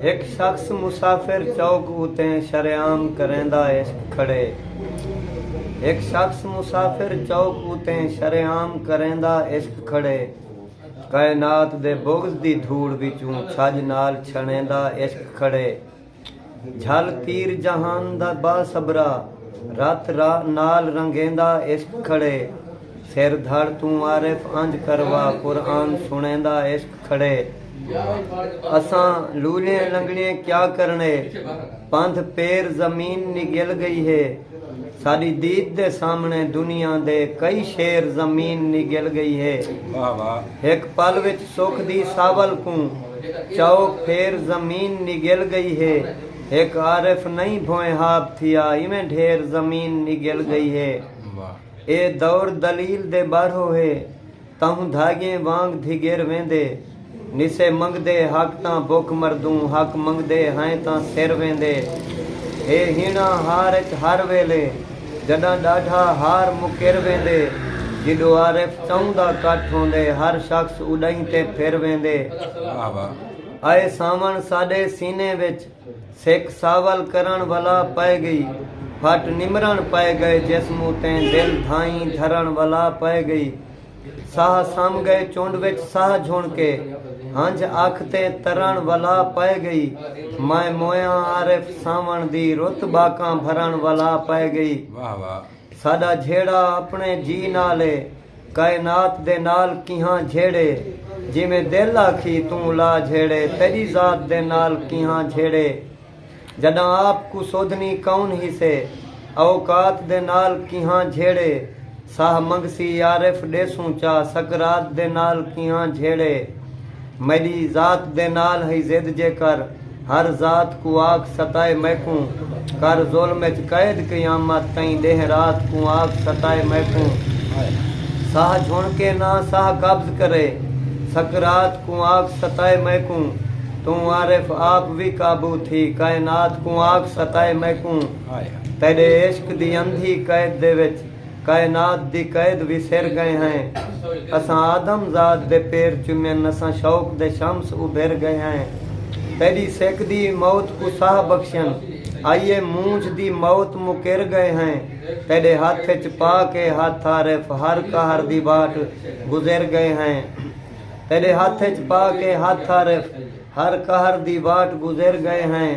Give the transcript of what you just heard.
ہک شخص مسافر چوک اتے شریعام کریندا عشق کھڑے ہک شخص مسافر چوک اتے شریعام کریندا عشق کھڑے کائنات دے بغض دی دھوڑ وچوں چھڄ نال چھݨیندا عشق کھڑے جھل تیر جہان دا باصبرا رت راہ نال رنگیندا عشق کھڑے۔ سر دھڑ توں عارف انج کروا قرآن سنڑیندا عشق کھڑے اساں لولیں لنگڑیں کیا کرنڑے پندھ پیر زمین نگل گئی ہے ساڈی دید دے سامنڑے دنیا دے کئی شیر زمین نگل گئی ہے ہک پل وچ سکھ دی ساول کوں چاؤ پھیر زمین نگل گئی ہے ہک عارف نئیں بھوئیں ہاب تھیا ایویں ڈھیر زمین نگل گئی ہے۔ اے دور دلیل دے ٻارہو ہے تہوں دھاڳیں وانگ دھیگر ویندے نسے منگدے حق تاں بکھ مردوں حق منگدے ہائیں تاں سر ویندے ہے ہیݨا ہار اچ ہر ویلے جݙاں ݙاڈھا ہار مکر ویندے جݙو عارف چؤں دا کٹھ ہوندے ہر شخص اݙاہیں تے پھر ویندے آئے ساوݨ ساݙے سینے وچ سک ساول کرݨ ولا پئے ڳئی۔ پھٹ نمرݨ پئے ڳئے جسم اتیں دل دھائیں دھرݨ ولا پئے ڳئی۔ ساہ سم ڳئے چنڈ وچ ساہ جھݨ کے ہنجھ اکھ تے ترݨ ولا پئے ڳئی۔ میں مویاں عارف سانوݨ دی رت ٻاکاں بھرݨ ولا پئے ڳئی۔ ساݙا جھیڑا اپݨے جی نال اے کائنات دے نال کیہاں جھیڑے جیویں دل آکھی توں لا جھیڑے تیݙی ذات دے نال کیہاں جھیڑے جݙاں آپ کوں سودھنی کون ہیسے اوقات دے نال کیہاں جھیڑے ساہ منگسی عارف ݙیسوں چا سکرات دے نال کیہاں جھیڑے میݙی ذات دے نال ہئی ضد جیکر ہر ذات کوں آکھ ستائے میکوں کر ظلم اچ قید قیامت تئیں ݙینہہ رات کوں آکھ ستائے میکوں ساہ جھݨ کے نہ ساہ قبض کرے سکرات کوں آکھ ستائے میکوں توں عارف آپ وی قابو تھی کائنات کوں آکھ ستائے میکوں تیݙے عشق دی اندھی قید دے وچ کائنات دی قید وسر گئے ہیں اساں آدم ذات دے پیر چمن اساں شوق دے شمس ابھر گئے ہیں تیڈی سک دی موت کوں ساہ بخشن آئیے مونجھ دی موت مکر گئے ہیں تیڈے ہتھ اچ پا کے ہتھ عارف ہر قہر دی واٹ گزر گئے ہیں تیڈے ہتھ اچ پا کے ہتھ عارف ہر قہر دی واٹ گزر گئے ہیں۔